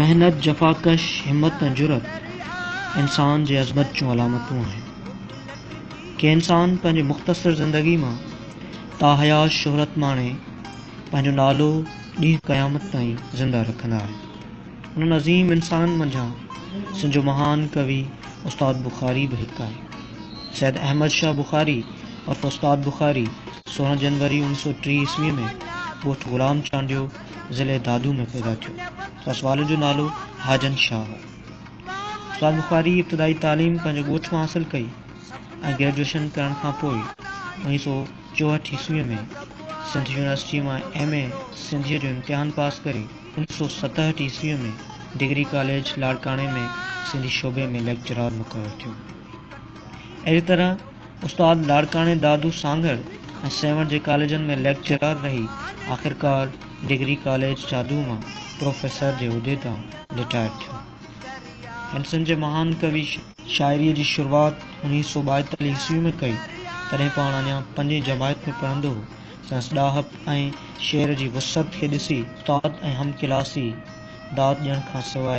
محنت، جفاڪش، همت ۽ جرئت انسان جي عظمت جون علامتون آهن. ڪي انسان پنهنجي مختصر زندگي مان تاحيات شهرت ماڻي پنهنجو نالو ڏينهن قيامت تائين زنده رکندا آهن. انهن عظيم انسانن منجهان سنڌ جو مهان ڪوي استاد بخاري به هڪ آهي. سيد احمد شاهه بخاري عرف استاد بخاري سورهن جنوري اوڻ سؤ ٽي عيسوي ۾ ڳوٺ غلام چانڊيو، ضلعي دادو ۾ پيدا ٿيو. سندس والد جو نالو حاجن شاهه هو. استاد بخاري ابتدائي تعليم پنهنجي ڳوٺ مان حاصل ڪئي ۽ گريجوئيشن ڪرڻ کان پوء اوڻيهه سؤ چوهٺ عيسويء ۾ سنڌ يونيورسٽيء مان ايم اي سنڌيء جو امتحان پاس ڪري اوڻيهه سؤ ستهٺ عيسويء ۾ ڊگري ڪاليج لاڙڪاڻي ۾ سنڌي شعبي ۾ ليڪچرار مقرر ٿيو. اهڙي طرح استاد لاڙڪاڻي دادو سانگهڙ ۽ سيوهڻ جي ڪاليجن ۾ ليڪچرار رهي آخرڪار ڊگري ڪاليج شاهدو مان پروفيسر جي عهدي تان رٽائر ٿيو. هن سنڌ جي مهان ڪوي شاعريء جي شروعات اڻيهه سؤ ٻائيتاليهه عيسويء ۾ ڪئي، تڏهن پاڻ اڃا پنجين جماعت ۾ پڙهندو هو. سندس ڏاهپ ۽ شعر جي وسعت کي ڏسي استاد ۽ هم ڪلاسي داد ڏيڻ کان سواء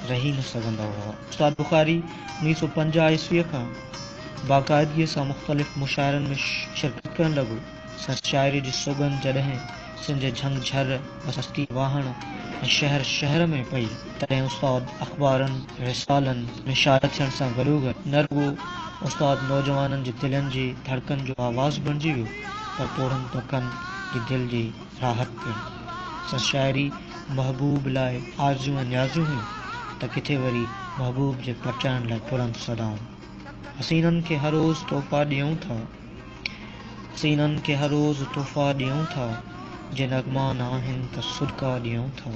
رهي نه سگهندا هئا. استاد بخاري اڻويهه سؤ پنجاهه عيسويء کان باقاعدگيء سان مختلف مشاعرن ۾ شرڪت ڪرڻ لڳو. سندس شاعريء جي سوڳند جڏهن سنڌ جي جهنگ جهر، بستي واهڻ ۽ شهر شهر ۾ پئي، تڏهن استاد اخبارن، رسالن ۾ شايع ٿيڻ سان گڏوگڏ نه رڳو استاد نوجوانن جي دلين جي ڌڙڪن جو آواز بڻجي ويو پر پوڙهن طبقن جي دل جي راحت پڻ. سندس شاعري محبوب لاء آرزيون ۽ نيازيون هيون ته ڪٿي وري محبوب جي پرچائڻ لاء بلند صدائون. حسينن کي هر روز تحفا ڏيئون ٿا. سينن کي هر روز تحفا ڏيون ٿا، جي نغما ناهن ته صدقا ڏيون ٿا.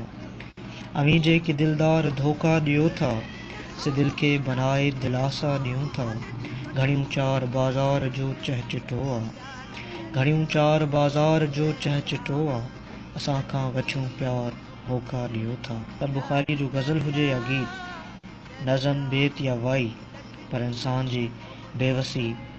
اوهين جيڪي دلدار ڌوڪا ڏيو ٿا، سي دل کي بنائي دلاسا ڏيون ٿا. گهڙيون چار بازار جو چهچٽو آ. گهڙيون چار بازار جو چهچٽو آ. اسان کان وڇون پيار هوڪا ڏيو ٿا. پر بخاريء جو غزل هجي يا گيت، نظم، بيت يا وائي پر انسان جي بيوسي،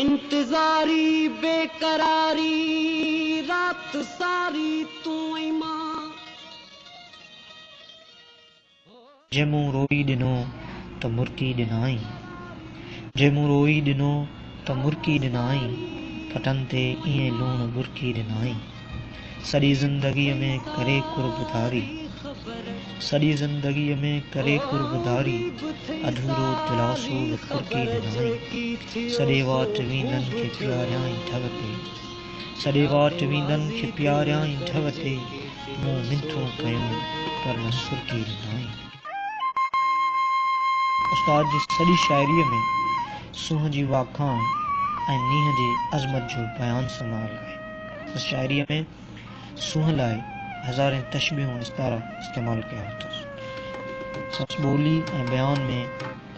انتظاري بي قراري رات ساري تون ۽ مان. جي مون روئي ڏنو ته مرڪي ڏنائين. جي مون روئي ڏنو ته مرڪي ڏنائين. پٽن تي ائين لوڻ ٻرڪي ڏنائين. سڄي زندگيء ۾ ڪري قرب ڌاري، سڄي زندگيء ۾ ڪري قرب ڌاري، اڌورو دلاسو به ڪرڪي ڏنائين، سڏي واٽ ويندن کي پياريائين ڍؤ تي، سڏي واٽ ويندن کي پياريائين ڍؤ تي، مون منٿون ڪيون پر نه سرڪي ڏنائين. استاد جي سڄي شاعريء ۾ سونهن جي واکاڻ ۽ مينهن جي عظمت جو بيان سمايل آهي. سندس شاعريء ۾ سونهن لاء هزارين تشبيهون ۽ استعارا استعمال ڪيا اٿس. سندس ٻولي ۽ بيان ۾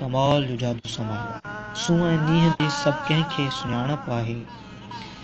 ڪمال جو جادو سمايل آهي. سونهن ۽ مينهن جي سڀ ڪنهن کي سڃاڻپ آهي.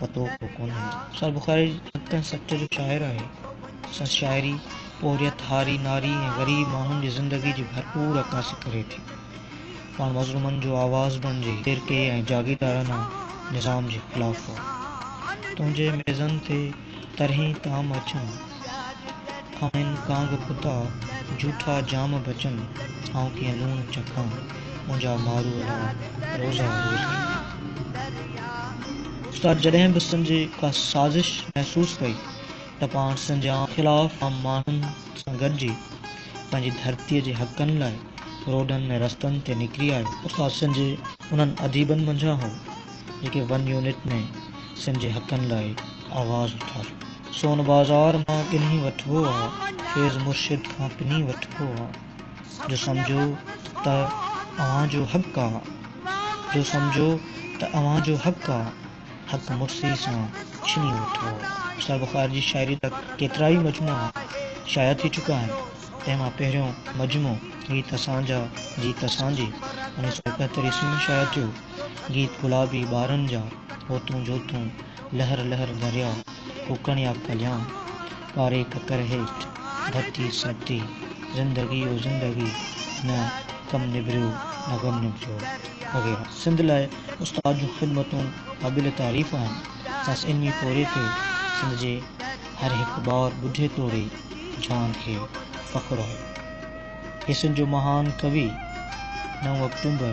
پتو به ڪونهي. سر بخاري جي ڪنهن سٽ جو شاعر آهي. سر شاعري پورهيت، هاري، ناري ۽ غريب ماڻهن جي زندگي جي ڀرپور عڪاسي ڪري ٿي. پاڻ مظلومن جو آواز بڻجي فرقي ۽ جاگيردارانه نظام جي خلاف هو. تنهنجي ميزن تي طرحين طعام اچن. آهن ڪانگ ڪتا جھوٺا جام بچن، آئون ڪيئن لوڻ چکان، منهنجا مارو لاء روزا روزان. استاد جڏهن به سن جي ڪا سازش محسوس ڪئي ته پاڻ سن جي خلاف عام ماڻهن سان گڏجي پنهنجي ڌرتي جي حقن لاء روڊن ۽ رستن تي نڪري آيو. استاد سن جي انهن اديبن منجھان هو. جيڪي ون يونٽ ۾ سنڌ جي حقن لاء آواز اٿاريو. سون بازار مان ڳنهي وٺبو آ، فيض مرشد کان پني وٺبو آ، جو سمجهو ته اوهان جو حق آ، جو سمجهو ته اوهان جو حق آ، حق مرثي سان ڇني وٺبو آ. سر بخار جي شاعريء جا ڪيترائي مجموعا شايع ٿي چڪا آهن، تنهن مان پهريون مجموعو هي ته سانجهه جي ته سانجهي انيس سؤ ايڪهتر عيسوي ۾ شايع ٿيو، گيت گلابي ٻارن جا، هوتون جوتون، لهر لهر درياء، ڪوڪڻ يا ڪليان، ٻاري ڪڪر هيٺ، ڀتي سرتي، زندگي او زندگي، نه ڪم نبريو، نه غم نبريو وغيره. سنڌ لاء استاد جون خدمتون قابل تعريف آهن، سندس علمي پورهيي تي سنڌ جي هر هڪ ٻار ٻڍي توڙي جوان کي فخر آهي. هي سنڌ جو مهان ڪوي، نو آڪٽومبر،